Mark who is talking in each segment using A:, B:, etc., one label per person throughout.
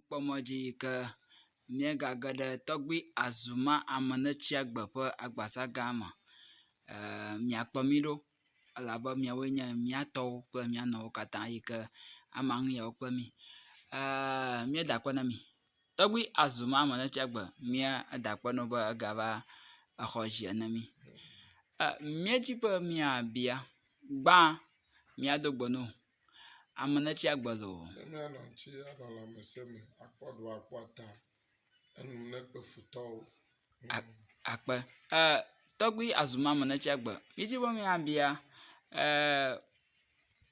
A: kpɔ mɔ dzi yi ke míegage ɖe tɔgbui Azuma Amenetsiagbe ƒe agbasa gã me. E miakpe mí ɖo elabe miawoe nye mía tɔwo kple mía nɔwo katã yi ke ama nu ye wokpe mí. E míeda akpe na mi. Tɔgbui Azuma Amenetsiagbe míeda akpe na wò be egava exɔ dzi ene mí. E míedi be miabia gbã míado gbe na wò Ame ɖe tsi agbe loo. Nenye anɔ ŋuti
B: anɔ lãmesẽ me akpɔ ɖoa akpɔ ta enu nakpe futɔwo. A
A: akpe e tɔgbui azumɔ ame ɖe tsi agbe. Mídi be míabia e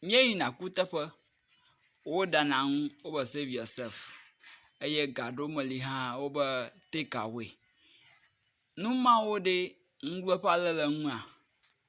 A: míeyina kuteƒe woɖana nu wo be save yourself eye ga ɖewo me li hã wo be take away. Nu mawo ɖee ŋugbeƒã le le nua?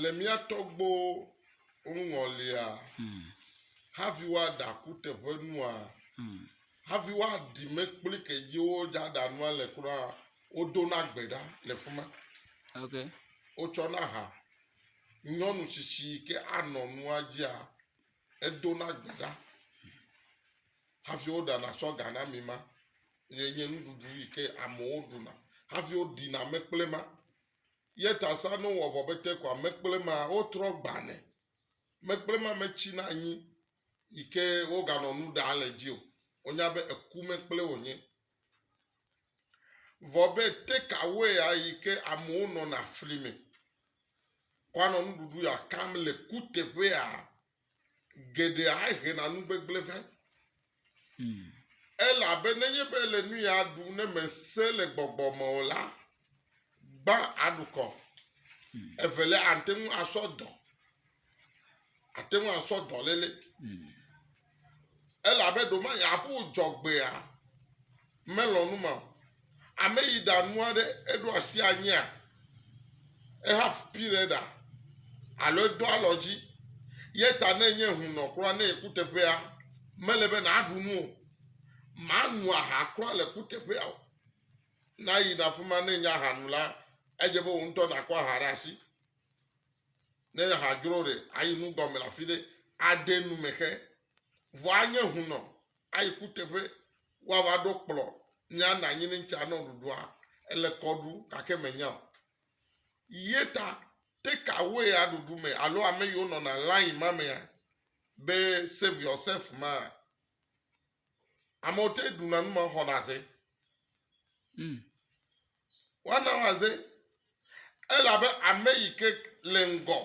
B: Le mía tɔgbuiwo ŋɔlia, hafi woaɖe akuteƒenua, hafi woaɖi mekpli ke dzi woaɖa nua le kura, wodona gbe ɖa le fi ma. Okay. Wotsɔna ha. Nyɔnu tsitsi yi ke anɔ nua dzia, edona gbe ɖa hafi woɖana sɔga na mi ma. Ye nye nuɖuɖu yi ke amewo ɖuna hafi woɖina mekpli ma. Ye ta sa no wɔ vɔ bete kɔa mekple ma wo trɔ gbane. Mekple ma me tsi na anyi yi ke wo ga nɔ nu ɖa le dzi o. Wo nya be eku mekple wo nye. Vɔ be te ka woe ya yi ke amewo nɔ na fli me kɔa nɔ nuɖuɖu ya kam le kuteƒe ya geɖe ahena nu gbegblẽ vɛ. Hmm. Elabe nenye be le nu ya ɖu ne mèse le gbɔgbɔ me o la, gbã aɖukɔ. Hmm. Evelia ate ŋu asɔ dɔ. Ate ŋu asɔ dɔléle. Hmm. Elabe ɖomanya ƒo dzɔgbea. melɔ̃ nu ma o. Ame yi ɖa nua ɖe eɖo asi anyia, ehafu pi ɖe ɖa alo edo alɔ dzi. Ye ta ne enye hunɔ kura ne yi kuteƒea, mele be nàɖu nu o. Màno aha kura le kuteƒea o. Ne ayina afi ma ne enye aha nu la, edze be wò ŋutɔ nàkɔ aha ɖe asi. Ne aha dzro ɖe, ayi nu gɔme le afi ɖe, ade nu me xe vɔ anye hunɔ ayi kuteƒe woava ɖo kplɔ nya na nyi ŋtsi anɔ ɖuɖua ele kɔ ɖu gake menya o ye ta take away ya ɖuɖu me alo ame yiwo nɔna line ma mea be save yourself ma amewo te ɖuna nu ma xɔna se Mm. Woana woaze elabe ame yi ke le ŋgɔ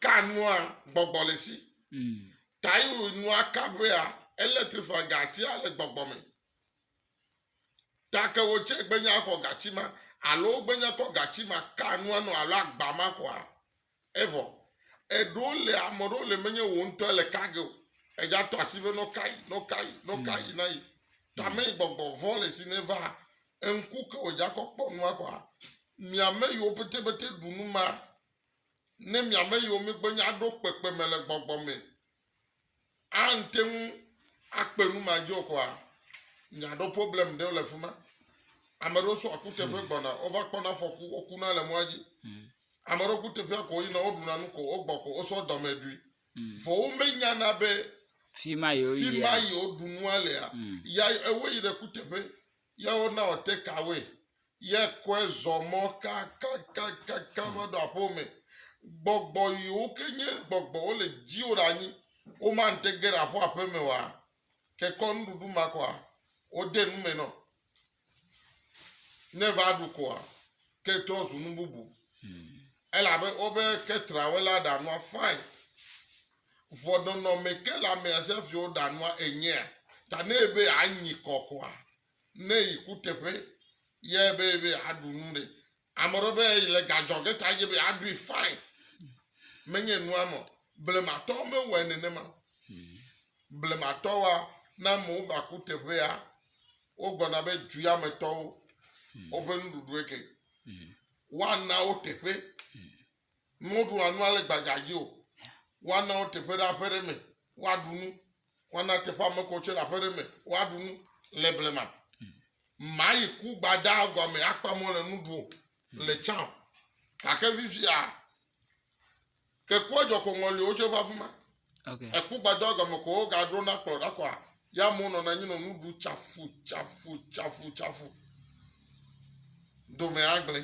B: ka nua gbɔgbɔ le si. Mm. Ta yi nua ka ʋea elektrifua gatia le gbɔgbɔ me. Ta ke wotse gbenya xɔ gatsi ma alo wogbenya kɔ gatsi ma ka nua nɔ alo agba ma xɔa. Evɔ eɖewo le ame ɖewo le menye wò ŋutɔ le ka ge o. Edza tɔ asi be nɔ kai nɔ kai nɔ kai hmm. na yi. Tame hmm. gbɔgbɔ vɔ le si ne va eŋku ke wò dza kɔ kpɔ nua kɔa. Miame yiwo pete pete ɖu nu ma. Ne miame yiwo megbe nya ɖo kpekpe me le gbɔgbɔ me ante ŋu akpe nu ma dzi okɔa, nya ɖo problem ɖewo le fima. Ame ɖewo sɔ akuteƒe hmm. gbɔna, wova kpɔna fɔku, wokuna le mɔa dzi. Hmm. Ame ɖewo kuteƒea ko yina, woɖuna nu ko, wogbɔ ko, wosɔ dɔme ɖui. Hmm. Vɔ womenyana be fima yi
A: woɖu nua
B: lea, ya ewo yi ɖe kuteƒe. ye wona wò takeaway, ye kɔe zɔ mɔ kakakakaka va ɖo aƒewo me. Gbɔgbɔ yiwo ke nye gbɔgbɔ wole dziwò ɖe anyi, womate ge ɖe aƒe aƒe me oa? Ke kɔ nuɖuɖu ma kɔa? Wode nu me nɔ. Ne va ɖu koa, ke trɔ zu nu bubu. Elabe wobe ketrawela ɖa nua fine. Vɔ nɔnɔmɛ ke la mea Xaviwo ɖa nua enyea? Ta ne ebe anyi kɔ kɔa ne yi kuteƒe ye ebe ebe aɖu nu ɖe. Ame ɖe be yi le gadzɔ ge ta ye be aɖui fine. Menye nua mɔ. Blematɔ mewɔe nenema. Blematɔ wa na amewo va kuteƒea wo gbɔna be dzuya me tɔwo woƒe nuɖuɖu eke. Wa na wo teƒe. Womeɖua nu ale gbagba dzi o. Woana wo teƒe ɖe aƒe ɖe me woaɖu nu. Woana teƒe ame kɔ tse ɖe aƒe ɖe me woaɖu nu le blema. Mayi ku gbada gɔme akpa mɔ le nu ɖu o le tsã o. Gake fifia ke kua dzɔ ko ŋɔli wo tse va afi ma. Okay. Eku
A: gbada gɔme
B: ko wogaɖo na kplɔ ɖa kɔa ya amewo nɔna anyi nɔ nu ɖu tsafu tsafu tsafu tsafu. Dome agblẽ.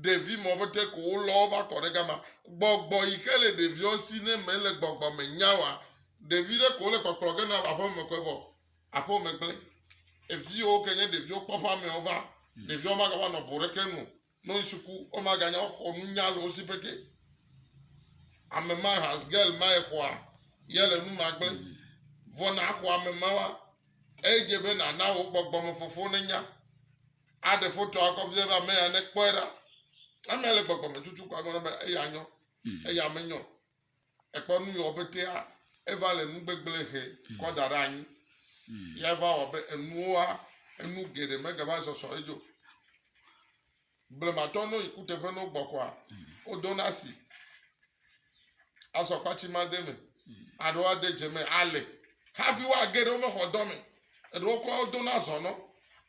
B: ɖevi mɔ be ɖe ko wolɔ wo va kɔ ɖe gama. Gbɔgbɔ yi ke le ɖeviwo si ne mele gbɔgbɔ me nya wa, ɖevi ɖe ko wole kpɔkplɔ ge na va aƒeme me ko evɔ aƒewo me gblẽ. Eviwo ke nye ɖeviwo kpɔ ƒamewo va, ɖeviwo magava nɔ bo ɖeke nu, no yi suku, womaganya woxɔ nunya le wo si pete. Ame ma has girl ma exɔa ye le nu ma gblẽ. Vɔ na xɔ ame ma wa, edze be nana wo gbɔgbɔ me fofo ne nya. Aɖe fotoa akɔ vie be ame ya nekpɔe ɖa. Ame ya le gbɔgbɔ me tutu ko agblɔ be eya nyɔ, mhm. eya menyɔ. Ekpɔ nu yɔ petea, eva le nu gbegblẽ he mhm. kɔ da ɖe anyi. Mhm. Ya va wɔ be enuwoa, enu geɖe megava zɔsɔ edzo. Blematɔ no yi kuteƒe no gbɔkɔa, wodona si. Azɔ akpa tsi made me, aɖewo ade dze me, ale hafi woage ɖe wome xɔ dɔ me, eɖewo kɔ wodo na zɔnɔ,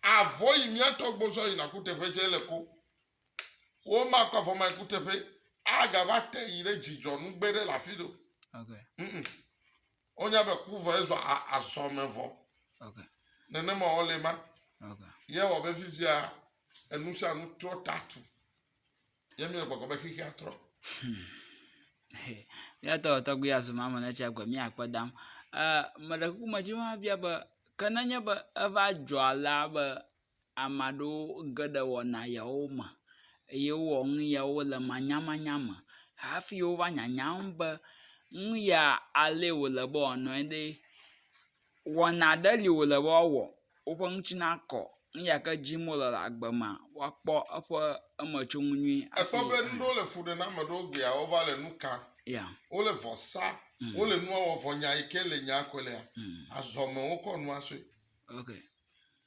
B: avɔ yi miatɔ gbɔ zɔ yina kuteƒe dze le ko. Wo ma kɔ avɔ ma kuteƒe, aga va te yi ɖe dzidzɔ nugbe ɖe le afi ɖo. Okay. Mm -mm.
A: Wonya
B: be ku vɔ ezɔ azɔ me vɔ. Okay.
A: Nenema wole
B: ma. Okay. Ye
A: wɔ be fifia
B: enu sia nu trɔ tatu. Ye mi gbɔgbɔ be xixia trɔ. Hmm.
A: Míatɔ tɔgbi azuma me ne tsia gbe míakpe dam. Ɛ eh, meɖe kuku me dzi hã bia be ke nenye be eva dzɔ alea be Ame aɖewo ge ɖe wɔna yawo me eye wowɔ nu yawo le manyamanya me hafi wova nyanyam be nu ya alee wòle be wòanɔe ɖe, wɔna aɖe li wòle be woawɔ, woƒe ŋuti nakɔ, nu ya ke dim wole le agbe mea, woakpɔ eƒe emetsoŋu nyui hafi
B: aa.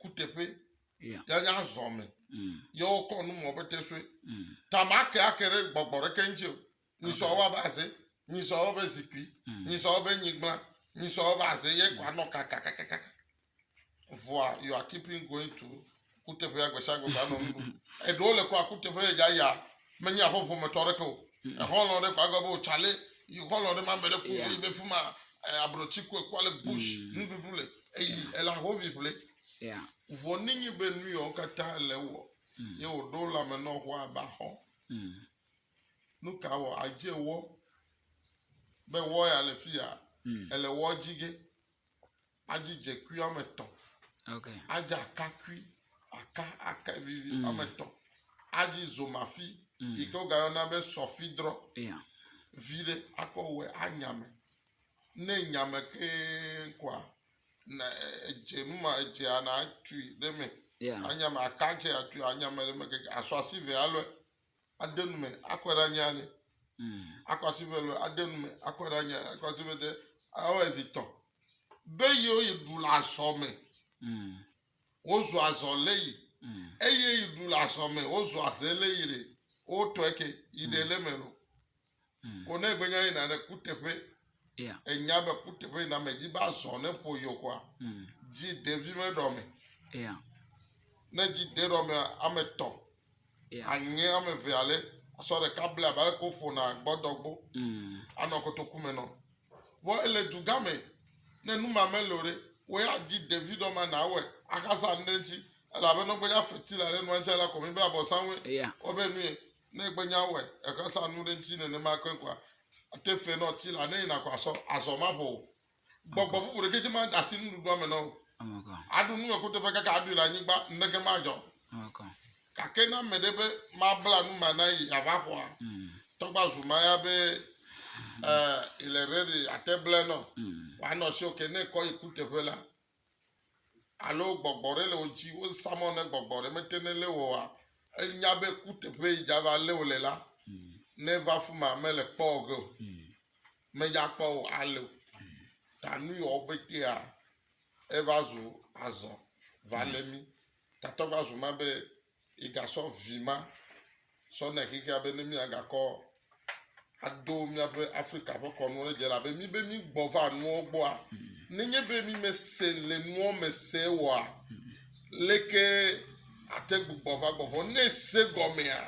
A: kuteƒe
B: Yeah. ya
A: nya zɔ me
B: Mm. ye wokɔ nu mɔ be te soe Mm. ta ma ke ake ɖe gbɔgbɔ ɖeke ŋuti o nyisɔ wa be aze nyisɔ wa be zikpui Mm. nyisɔ wa be nyigba nyisɔ wa be aze ye kɔ anɔ kakakakaka vɔa you are keeping going to kuteƒea gbesiagbe gba nɔ nu ɖum eɖewo le kura kuteƒe yedza ya Menye aƒe ƒometɔ aɖeke o. Exɔlɔ̃ ɖe ko agblɔ be, o tsale, yi xɔlɔ̃ ɖe ma me ɖe ko Yeah. yi be fi ma eh, ablɔti ko ekpɔ ale bush nuɖuɖu le eyi ela hovi ƒle. Yeah. Vɔ
A: nenye
B: be nu yawo katã le ewɔ ye wòɖo lãme nɔ xɔa abe axɔ, Mm. nu ka wɔ adze wɔ be wɔ ya le fi ya Mm. ele wɔ dzi ge? adzi dzekui woame etɔ̃,
A: adzi akakui,
B: aka aka vivi mm. woame etɔ̃, adzi zomafi mm. yi ke wogayɔna be sɔfidrɔ
A: vi ɖe
B: akɔ wɔ anyame ne nyame kee koa na edze nu ma edze ana atui ɖe me anyame aka
A: dze
B: atui anyame ɖe me keke asɔ asi ve alɔe. aɖe nu me akɔ ɖe anyi ale. Hmm. Akɔ asi ve lo aɖe nu me akɔ ɖe anyi ale. Akɔ asi ve de awɔ ezi tɔ. Be yewo yi ɖu le azɔ me. Hmm. Wozu azɔ le yi. Hmm. Eye yi ɖu le azɔ me wozu azɛ le yi le. Wotɔ eke yi ɖe le me lo. mm. ko ne egbe nya yina ɖe kuteƒe yeah. enya
A: be kuteƒe
B: yina me dzi ba zɔ ne ƒo yɔ kɔa mm. dzi ɖevi me ɖɔ me yeah.
A: ne
B: dzi de ɖɔ me ame tɔ yeah.
A: anyi ame ve
B: ale asɔ ɖeka ble abe ale ko ƒona gbɔdɔgbo mm. anɔ kotoku me nɔ vɔ ele dugã me ne numa me lo ɖe wo ya dzi ɖevi ɖɔ ma na awɔe axasa nu ɖe ŋuti elabe nɔgbe ya feti la ɖe nua ŋuti ala kɔmi be abɔ sanwó yeah. wɔbe nu ye. Ne egbe nya wɔe, ehe sa nu ɖe ŋuti nenema ke kɔa, ate fe nɔ ti la, ne yina kɔ asɔ, azɔ maƒo o. Gbɔgbɔ bubu ɖeke dzi ma asi nuɖuɖua me nɔ o. Aɖu nu
A: eko teƒe
B: kaka aɖui le anyigba, neke madzɔ.
A: Gake na me
B: ɖe be mabla nu ma na yi ava xɔa, mm. tɔgba zu ma ya be eh, ile redi ate ble nɔ, mm. wanɔ si oke ne kɔ yi ku teƒe la. alo gbɔgbɔ ɖe le wo dzi, wozã mɔ ne gbɔgbɔ ɖe mete ne lé woa, enya be kuteƒe yi dza va lé wo le la, ne va fi ma mele kpɔ wo ge o, medza kpɔ wo ale o. Ta nu yi wo betea eva zu azɔ va lé mi. Tatɔ va zu ma be yi gasɔ vi ma sɔ nɛ xexea be ne mia gakɔ ado míaƒe Afrika ƒe kɔnuwo ɖe dze elabe mi be mi gbɔ va nuwo gbɔa nenye be mi me se le nuwo me se wɔa leke ate gbugbɔ va gbɔ vɔ ne se gɔmea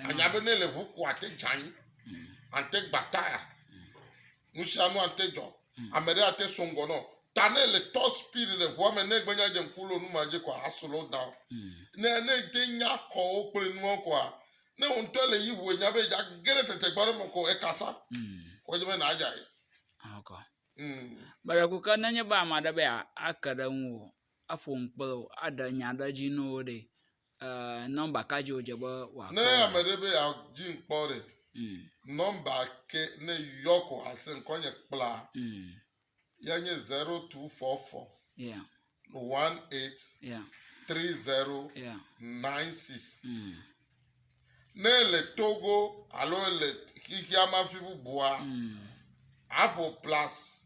B: anya be ne le ʋu ko ate dza anyi ante gbata ya. nusianu ate dzɔ. Hmm. Ame ɖe ate so ŋgɔ nɔ. Ta ne le top speed le ʋua me ne gbenya dze ŋku lo numa dzi kɔa a slow down. Hmm. Ne ne te nya kɔwo kple nua kɔa ne wo ŋutɔ le yi ʋu enya be dza ge ɖe tete gba ɖe me kɔ ekasa. Hmm. Kɔ dze be na dza yi. Akɔ. Bɛrɛku ke
A: nenye be ame aɖe be ake ɖe ŋu o, aƒo ŋu kple wo, aɖe nya ɖe dzi na wo ɖe, Eh, nɔmba ka dzi wòdze be wòakɔ? Ne ame ɖe be
B: yeadi ŋkpɔ ɖe, mm. nɔmba ke ne yɔ ko ase ŋkɔnye kpla, mm. ya nye 0244 yeah. 18 yeah. 3096. Yeah. Mm. Ne ele Togo alo ele xixeamafi bubua, mm. aƒo plus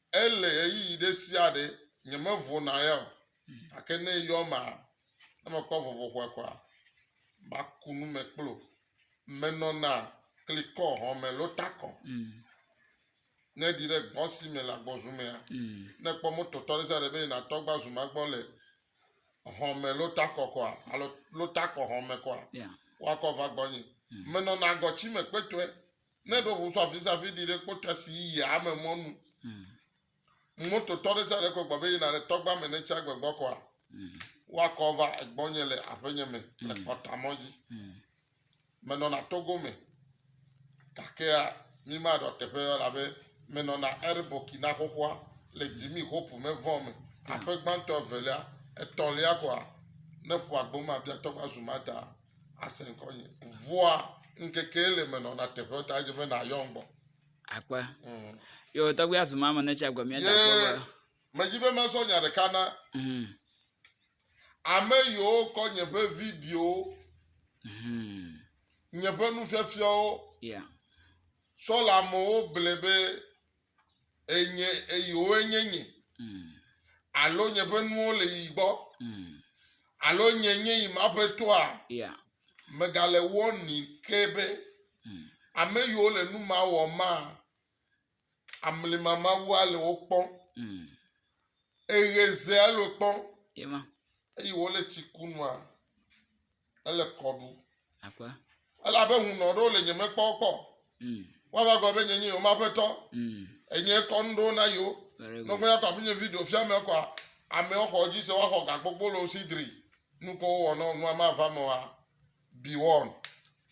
B: Ele ɣeyiɣi ɖe sia ɖe nyemevɔ̃na ya o, gake ne eyɔ emea, ne mekpɔ vɔvɔ̃ xɔe kɔa, maku nu me kpli o. Menɔna klikɔ hɔ̃me loo takɔ. Ne èɖi ɖe gbɔ si me le agbɔzu mea, ne èkpɔ mototɔ ɖe sia ɖe be yina tɔ gbazu ma gbɔ le hɔ̃me loo takɔ kɔa, alo loo takɔ hɔ̃me kɔa, woakɔ va gbɔnye. Menɔna agɔtsi me kpetɔe. Ne ɖo ʋu sɔ afi sia afi ɖi ɖe kpɔtɔa si yia ame mɔ nu. Mm. Mototɔ ɖe sia ɖe kɔ gbɔgbe yina ɖe tɔgba me ne tsia gbegbɔ kɔa, mm. woakɔ va egbɔnye le aƒenye me mm. le kpɔtamɔ dzi. Mm. Menɔna togo me, gakea mimaɖɔ teƒe elabe menɔna er Burkina xoxoa le dzimi hopu me vɔ me. Mm. Aƒe gbãtɔ evelia, etɔ̃lia kɔa, ne ƒua gboma bia tɔgba zumata. ase ŋkɔnye. Vɔa ŋkeke le menɔna teƒe ta dze be nàyɔm gbɔ. Akpe. Mm.
A: Yo, tɔgbi azu ma me ne tsi agbe mía da kpɔ be. Medzi be
B: mazɔ nya ɖeka na. Mm. Ame yiwo kɔ nye ƒe videowo. Mm. Nye ƒe nufiafiawo. Yeah. Sɔ le amewo ble be enye eyiwo nye nye alo nye ƒe nuwo le yi gbɔ alo nye nye yi ma ƒe toa megale wɔni ke be ame yiwo le nu ma wɔ ma amlima mawu ale wo kpɔ eɣe ze alo kpɔ eye wole tsi kunua Ele kɔ ɖu. Akwa. Ele abe hunɔ ɖewo le nye mekpɔ kpɔ. Mm. Woava gblɔ be nye nye yewo maƒetɔ. Mm. Enye kɔ nu ɖewo na yewo. Nɔƒe ya kɔ afi nye video fia me kɔa. Amewo xɔ dzi se woaxɔ gakpokpo le wo si dri. Nukɔ wowɔ nɔ nua ma va me wa. Be one.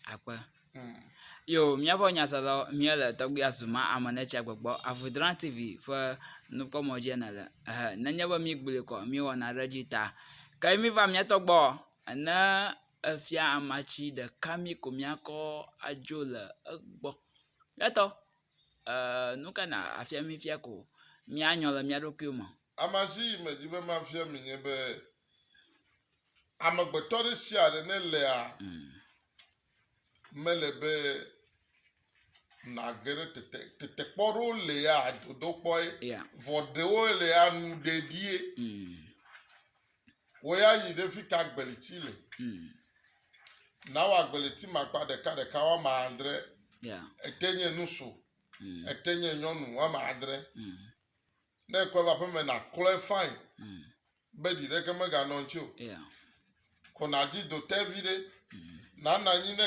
B: Akwa.
A: Mm. Yo, míaƒe nyasala mía le tɔgbi azuma ame ne tsia gbɔgbɔ avodran TV ƒe nukpɔmɔ dzi ne le. Eh, nenye be mí gbli kɔ, mí wɔna ɖe dzi ta. Ke mí va mía tɔgbɔ. Ana efia amatsi ɖeka mí ko míakɔ adzo le egbɔ. Etɔ eeee nu ka nàfia mí fia ko míanyɔ le mía ɖokuiwo me. Amatsi yi medi
B: be mafia mi nye be, amegbetɔ ɖe sia ɖe ne lea, mele be nàge ɖe tete, tetekpɔ ɖewo lea dodokpɔe, vɔ ɖewo lea nuɖeɖie. Wò ya yi ɖe fi ka agbeliti le. Hmm. Nawɔ agbeliti makpa ɖeka ɖeka woama adre. Ete nye nusu. Hmm. Ete nye nyɔnu woama adre. Hmm. Ne ekɔe va ƒeme naklɔe fain be ɖi ɖeke meganɔ ŋuti o. Ko nadzi do te vi ɖe. Nana anyi ne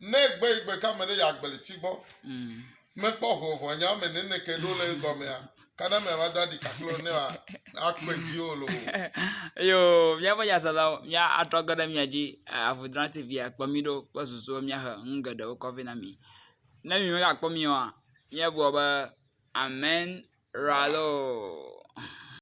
B: Ne gbe yi gbe ka me ɖe ya gbeli ti gbɔ. Mm. Me kpɔ ho vɔ nya me ne ne ke ɖo le gɔ me ya. Ka na me va da di ka klo ne wa a kpe di o lo. Yo,
A: mia va ya zala mia a trɔ ge ɖe mia ji eh, a vu dra ti via kpɔ mi ɖo kpɔ zuzu mia he nu ge ɖe wo kɔvi na mi. Ne mi me ka kpɔ mi wa, mia bua be amen ralo.